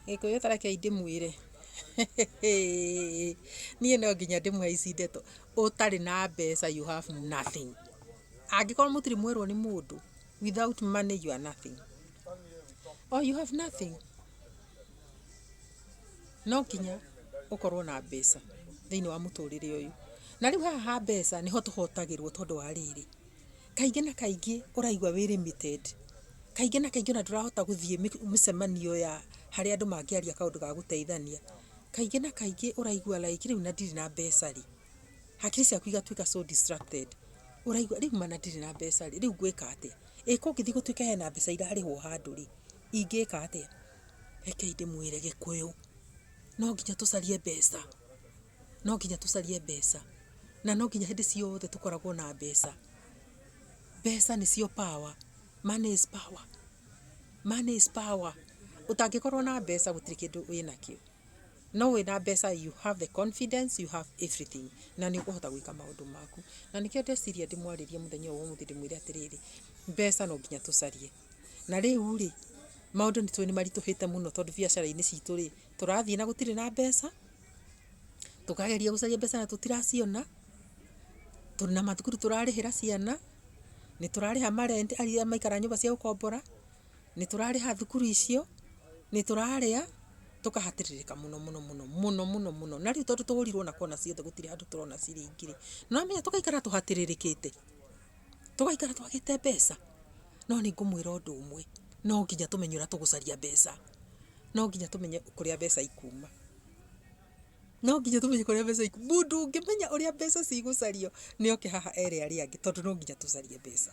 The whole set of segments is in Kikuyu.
Gĩkũyũ ta reke ndĩmwĩre, niĩ no nginya ndĩmũhaici ndeto, ũtarĩ na mbeca you have nothing. Angĩkorwo mũtirĩ mwerwo nĩ mũndũ, without money you are nothing. O you have nothing. No nginya ũkorwo na mbeca thĩiniĩ wa mũtũrĩre ũyũ. Na rĩu haha ha mbeca nĩho tũhotagĩrwo tondũ wa rĩrĩ. Kaingĩ na kaingĩ ũraigua wĩ limited. Kaingĩ na kaingĩ ona ndũrahota gũthiĩ mĩcemanio ya harĩa andũ mangĩaria kaũndũ ga gũteithania. Kaingĩ na kaingĩ ũraigua like rĩu na ndirĩ na mbeca rĩ, hakiri ciaku igatuĩka so distracted. Ũraigua rĩu ma na ndirĩ na mbeca rĩ, rĩu ngwĩka atĩa? Ĩ kũngĩthiĩ gũtuĩke hena mbeca irarĩhwo handũ rĩ, ingĩka atĩa? Rekei ndĩmwĩre Gĩkũyũ, no nginya tũcarie mbeca. No nginya tũcarie mbeca. Na no nginya hĩndĩ ciothe tũkoragwo na mbeca. Mbeca nĩcio power. Money is power. Money is power. Ũtangĩkorwo na mbeca gũtirĩ kĩndũ wĩnakĩo. No wĩna mbeca you have the confidence, you have everything. Na nĩ ũkũhota gwĩka maũndũ maku. Na nĩkĩo ndeciria ndĩmwarĩrie mũthenya ũyũ wa ũmũthĩ ndĩmwĩre atĩrĩrĩ, mbeca no nginya tũcarie. Na rĩu rĩ, maũndũ nĩ tũĩ nĩ maritũhĩte mũno tondũ biacara-inĩ citũ rĩ, tũrathiĩ na gũtirĩ na mbeca, tũkageria gũcaria mbeca na tũtiraciona, na mathukuru tũrarĩhĩra ciana, nĩ tũrarĩha ma rent arĩa maraikara nyũmba cia gũkombora, nĩ tũrarĩha thukuru icio, nĩ tũrarĩa, tũkahatĩrĩrĩka mũno mũno mũno, mũno mũno mũno. Na rĩu tondũ tũhũrirwo na kona ciothe gũtirĩ handũ tũrona ciringi rĩ, nĩ wamenya tũgaikara tũhatĩrĩrĩkĩte. Tũgaikara twagĩte mbeca. No nĩ ngũmwĩra ũndũ ũmwe, no nginya tũmenye ũrĩa tũgũcaria mbeca. No nginya tũmenye kũrĩa mbeca ikuuma. No nginya tũmenye kũrĩa mbeca ikuuma. Mũndũ ũngĩmenya ũrĩa mbeca cigũcario nĩ oke haha ere arĩa angĩ tondũ no nginya tũcarie mbeca.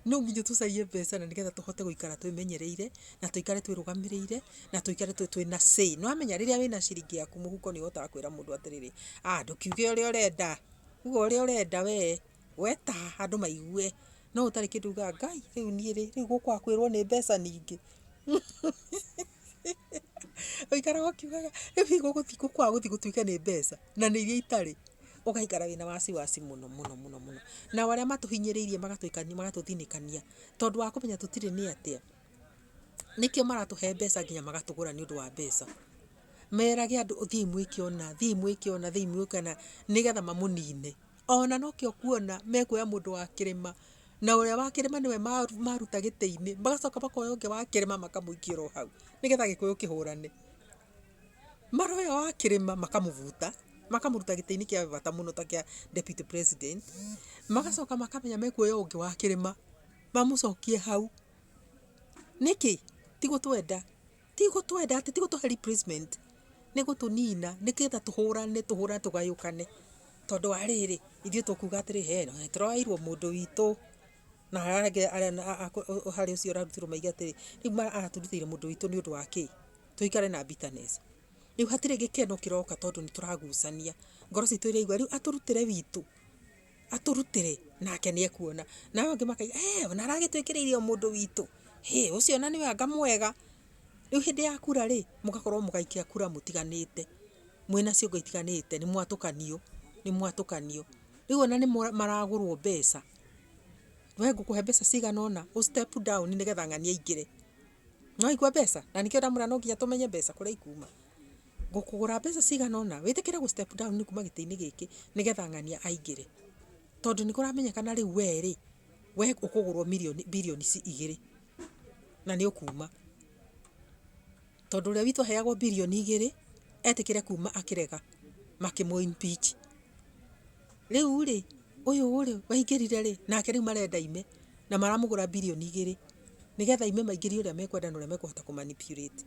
No nginya tũcarie mbeca na nĩgetha tũhote gũikara twĩmenyereire, na tũikare twĩrũgamĩrĩire, na tũikare twĩna say. Nĩ wamenya rĩrĩa wĩna ciringi yaku mũhuko nĩ ũhotaga kwĩra mũndũ atĩrĩrĩ, aah ndũkiuge ũrĩa ũrenda, uga ũrĩa ũrenda wee. Weta andũ maigue no ũtarĩ kĩndũ ugaga Ngai rĩu niĩ rĩ rĩu gũka kwĩrwo nĩ mbeca ningĩ ũikaraga ũkiugaga rĩu hihi gũka gũthiĩ gũtuĩke nĩ mbeca na nĩ iria itarĩ ũgaikara wĩna wasi wasi mũno mũno mũno mũno nao arĩa matũhinyĩrĩirie magatũthinĩkania tondũ wa kũmenya tũtirĩ nĩ atĩa nĩkĩo maratũhe mbeca nginya magatũgũra nĩ ũndũ wa mbeca. Merage andũ thiĩi mwĩke ũna thiĩi mwĩke ũna thiĩi mwĩke ũna nĩgetha mamũnine. Ona nokĩo ũkuona mekuoya mũndũ wa kĩrĩma, na ũrĩa wa kĩrĩma nĩwe maruta gĩtĩ-inĩ, magacoka makoya ũngĩ wa kĩrĩma makamũikia oro hau, nĩgetha gĩkũyũ kĩhũrane. Maroya ũyũ wa kĩrĩma makamũbuta, makamũruta gĩtĩ-inĩ kĩa bata mũno ta kĩa Deputy President, magacoka makamenya mekuoya ũngĩ wa kĩrĩma mamũcokie hau. Nĩkĩ? Ti gũtwenda. ti gũtwenda atĩ ti gũtũhe replacement nĩ gũtũnina nĩgetha tũhũrane tũhũrane tũgayũkane tondũ wa rĩrĩ ithuĩ tũkuga atĩrĩ he no nĩ tũroyairwo mũndũ witũ na harĩa angĩ arĩa na- a- a- kũ- harĩ ũcio ũrarutĩrwo maiga atĩrĩ rĩu ma- aratũrutĩire mũndũ witũ nĩ ũndũ wa kĩ tũikare na bitterness rĩu hatirĩ gĩkeno kĩroka tondũ nĩ tũragucania ngoro citũ iraigua rĩu atũrutĩre witũ atũrutĩre nake nĩ ekuona. Na aya angĩ makauga hee ona aragĩtwĩkĩrĩire o mũndũ witũ, hĩ ũcio ona nĩwe anga mwega. Rĩu hĩndĩ ya kura rĩ, mũgakorwo mũgĩikia kura mũtiganĩte, mwĩna ciongo itiganĩte, nĩ mwatũkanio, nĩ mwatũkanio. Rĩu ona nĩ maragũrwo mbeca, we ngũkũhe mbeca cigana ũna ũ step down nĩgetha ng'ania aingĩre. Nĩ waigua mbeca? Na nĩkĩo ndamwĩra no nginya tũmenye mbeca kũrĩa ikuuma. Ngũkũgũra mbeca cigana ũna, wĩtĩkĩre gũ step down kuma gĩtĩ-inĩ gĩkĩ nĩgetha ng'ania aingĩre. Tondũ nĩ kũramenyekana rĩu we rĩ, we ũkũgũrwo mirioni, birioni igĩrĩ na nĩ ũkuma. Tondũ ũrĩa witũ aheagwo birioni igĩrĩ, etĩkĩre kuma akĩrega makĩmũ impeach. Rĩu rĩ, ũyũ rĩ, waingĩrire rĩ, nake rĩu marenda aime na maramũgũra birioni igĩrĩ nĩgetha aime maingĩrie ũrĩa mekwenda na ũrĩa mekũhota kũ manipulate.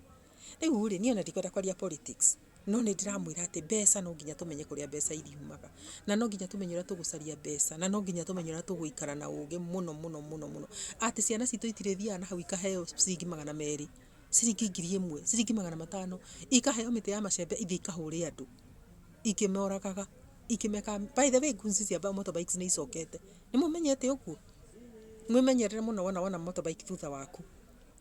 Rĩu rĩ, niĩ ona ndikwenda kwaria politics, no nĩ ndĩramwĩra atĩ mbeca no nginya tũmenye kũrĩa mbeca iriumaga, na no nginya tũmenye ũrĩa tũgũcaria mbeca, na no nginya tũmenye ũrĩa tũgũikara na ũgĩ mũno mũno mũno mũno, atĩ ciana citũ itirĩthiaga na hau ikaheo ciringi magana merĩ, ciringi ngiri ĩmwe, ciringi magana matano, ikaheo mĩtĩ ya macembe ithiĩ ikahũre andũ, ikĩmoragaga, ikĩmekaga, by the way guns cia motorbikes nĩ icokete, nĩ mũmenyete ũguo? Mwĩmenyerere mũno wona wona motorbike thutha waku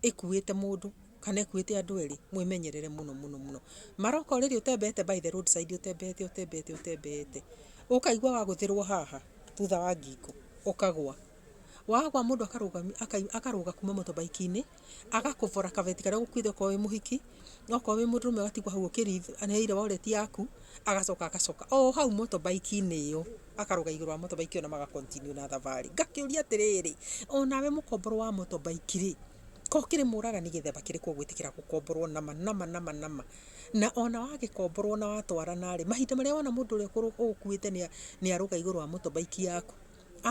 ĩkuĩte mũndũ. Kana ĩkuĩte andũ erĩ, mwĩmenyerere mũno mũno mũno. Maroko rĩrĩ ũtembete by the road side ũtembete ũtembete ũtembete, ũkaigua wagũthĩrwo haha thutha wa ngingo, ũkagwa. Wagwa mũndũ akarũgamio akarũga kuma motorbike -inĩ, agakũbora kabeti karĩa ũgũkuĩte okorwo wĩ mũhiki, okorwo wĩ mũndũrũme ũgatigwo hau ũkĩrĩire wallet yaku, agacoka agacoka o hau motorbike -inĩ ĩyo, akarũga igũrũ wa motorbike ĩyo na maga continue na thabarĩ. Ngakĩũria atĩrĩrĩ, onawe mũkomboro wa motorbike rĩ. Ko kĩrĩ mũragani gĩthemba kĩrĩkũ ũgwĩtĩkĩra gũkomborwo nama nama nama nama? Na ona wagĩkomborwo na watwarana-rĩ, mahinda marĩa wona mũndũ ũrĩa ũgũkuĩte nĩ arũga igũrũ wa motorbike yaku,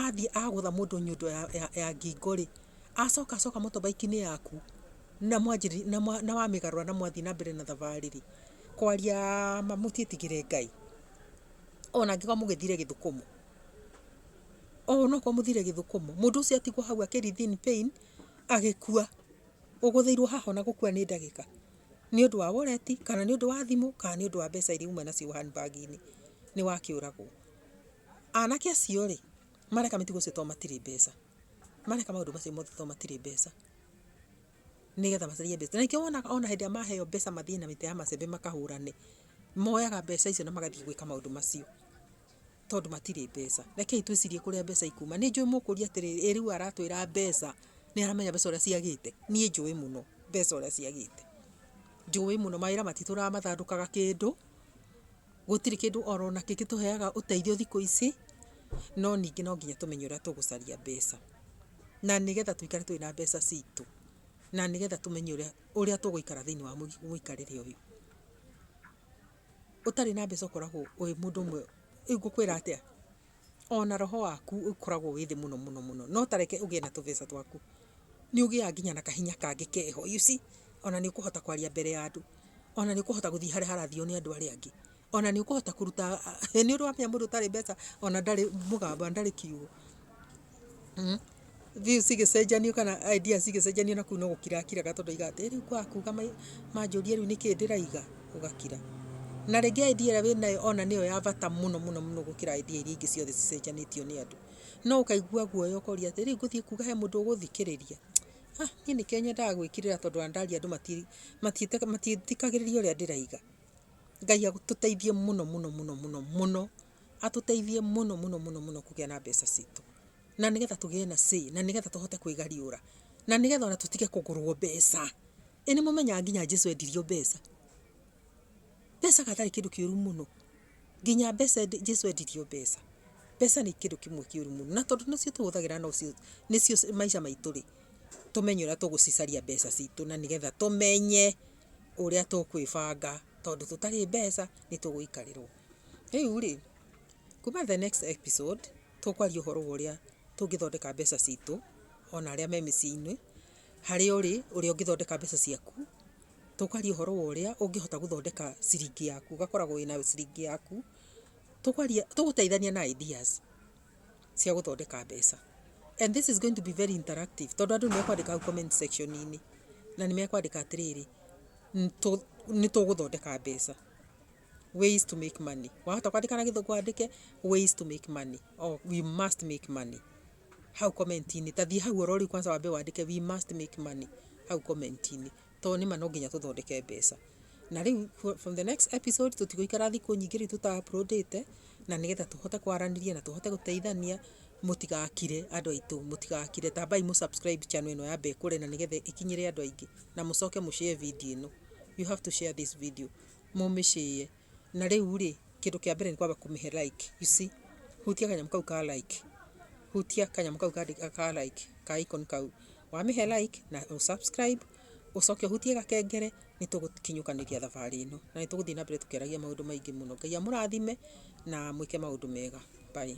athiĩ agũtha mũndũ nyundo ya ngingo-rĩ, acoka acoka motorbike-inĩ yaku na wamĩgarũra na mwathiĩ na mbere na thabarĩ-rĩ, kwaria ma mũtiĩtigĩre Ngai. Ona angĩkorwo mũgĩthire gĩthũkũmo, ona okorwo mũthire gĩthũkũmo, mũndũ ũcio atigwo hau akĩ writhin pain. agĩkua, ũgũthĩirwo haha ona gũkua nĩ ndagĩka, nĩ ũndũ wa wallet, kana nĩ ũndũ wa thimũ, kana nĩ ũndũ wa mbeca iria uma nacio hand bag -inĩ, nĩ wakĩũragwo. Anake acio rĩ, mareka mĩtugo ĩcio tondũ matirĩ mbeca, mareka maũndũ macio mothe tondũ matirĩ mbeca, nĩgetha macarie mbeca. Na nĩkĩo wonaga ona hĩndĩ ĩrĩa maheo mbeca mathiĩ na mĩtĩ ya macembe makahũrane, moyaga mbeca icio na magathiĩ gwĩka maũndũ macio. tondũ matirĩ mbeca. Rekei twĩcirie kũrĩa mbeca ikuma. Nĩ njũĩ mũkũria atĩrĩrĩ, ĩ rĩu aratwĩra mbeca, nĩ aramenya mbeca ũrĩa ciagĩte? Niĩ njũĩ mũno mbeca ũrĩa ciagĩte. Njũĩ mũno, mawĩra matitũraga mathandũkaga kĩndũ, gũtirĩ kĩndũ oro na kĩ gĩtũheaga ũteithio thikũ ici, no ningĩ no nginya tũmenye ũrĩa tũgũcaria mbeca. Na nĩgetha tũikare twĩ na mbeca citũ. Na nĩgetha tũmenye ũrĩa ũrĩa tũgũikara thĩiniĩ wa mũikarĩre ũyũ. Ũtarĩ na mbeca ũkoragwo wĩ mũndũ ũmwe, rĩu ngũkwĩra atĩa, ona roho waku ũkoragwo wĩ thĩ mũno mũno mũno, no ta reke ũgĩe na tũbeca twaku, nĩ ũgĩaga nginya na kahinya kangĩ keho, you see, ona nĩ ũkũhota kwaria mbere ya andũ, ona nĩ ũkũhota gũthiĩ harĩa harathio nĩ andũ arĩa angĩ, ona nĩ ũkũhota kũruta, nĩ ũramenya mũndũ ũtarĩ mbeca ona ndarĩ mũgambo na ndarĩ kiugo. views igĩcenjanio kana ideas igĩcenjanio na kũu no gũkira akiraga tondũ aiga atĩ rĩu kwaga kuga mai- manjũria rĩu nĩkĩ ndĩraiga ũgakira na rĩngĩ idea ĩrĩa wĩnayo ona nĩyo ya bata mũno mũno mũno gũkĩra idea iria ingĩ ciothe cicenjanĩtio nĩ andũ no ũkaigua guoya ũkoria atĩ rĩu ngũthiĩ kuga he mũndũ ũgũthikĩrĩria ah niĩ nĩkĩo nyendaga gwĩkirĩra tondũ ona ndaria andũ mati- matiĩtĩka- matiĩtĩkagĩrĩria ũrĩa ndĩraiga ngai atũteithie mũno mũno mũno mũno mũno atũteithie mũno mũno mũno mũno kũgĩa na mbeca citũ. na nĩgetha tũgĩe na say na nĩgetha tũhote kwĩgariũra na nĩgetha ona tũtige kũgũrwo mbeca ĩ nĩ mũmenyaga nginya jesu endirio mbeca mbeca gatarĩ kĩndũ kĩũru mũno nginya mbeca endi- jesu endirio mbeca mbeca nĩ kĩndũ kĩmwe kĩũru mũno na tondũ nĩcio tũhũthagĩra nocio nĩcio maica maitũ rĩ tũmenye ũrĩa tũgũcicaria mbeca citũ na nĩgetha tũmenye ũrĩa tũkwĩbanga tondũ tũtarĩ mbeca nĩ tũgũikarĩrwo rĩu rĩ kuma the next episode Tũkwaria ũhoro wa ũrĩa tũngĩthondeka mbeca citũ ona arĩa me mĩciĩ-inĩ, harĩa ũrĩ, ũrĩa ũngĩthondeka mbeca ciaku. Tũkwaria ũhoro wa ũrĩa ũngĩhota gũthondeka ciringi yaku, ũgakoragwo wĩna ciringi yaku. Tũkwaria, tũgũteithania na ideas cia gũthondeka mbeca. And this is going to be very interactive tondũ andũ nĩ mekwandĩka hau comment section -inĩ, na nĩ mekwandĩka atĩrĩrĩ, nĩ tũgũthondeka mbeca. ways to make money wahota kwandika na githungu andike ways to make money or we must make money hau komenti-inĩ ta thiĩ hau orori kwanza wambe wandike we must make money hau komenti-inĩ tondũ nĩma no nginya tũthondeke mbeca na rĩu fro- from the next episode tũtigũikara thikũ nyingĩ rĩu tũta uploadĩte na nĩgetha tũhote kwaranĩria na tũhote gũteithania mũtigakire andũ aitũ mũtigakire tambai mũ subscribe channel ĩno ya mbekũre na nĩgetha ĩkinyĩre andũ aingĩ na mũcoke mũshare video ĩno you have to share this video mũmĩshare na rĩu rĩ kĩndũ kĩa mbere nĩ kwamba kũmĩhe like you see hutia kanyamũ kau ka like hutia kanyamũ kau kandĩka ka like ka icon kau wamĩhe like na ũ subscribe ũcoke ũhutie gakengere nĩ tũgũkinyũkanĩria thabarĩ ĩno na nĩ tũgũthiĩ na mbere tũkĩaragia maũndũ maingĩ mũno ngai amũrathime na mwĩke maũndũ mega bye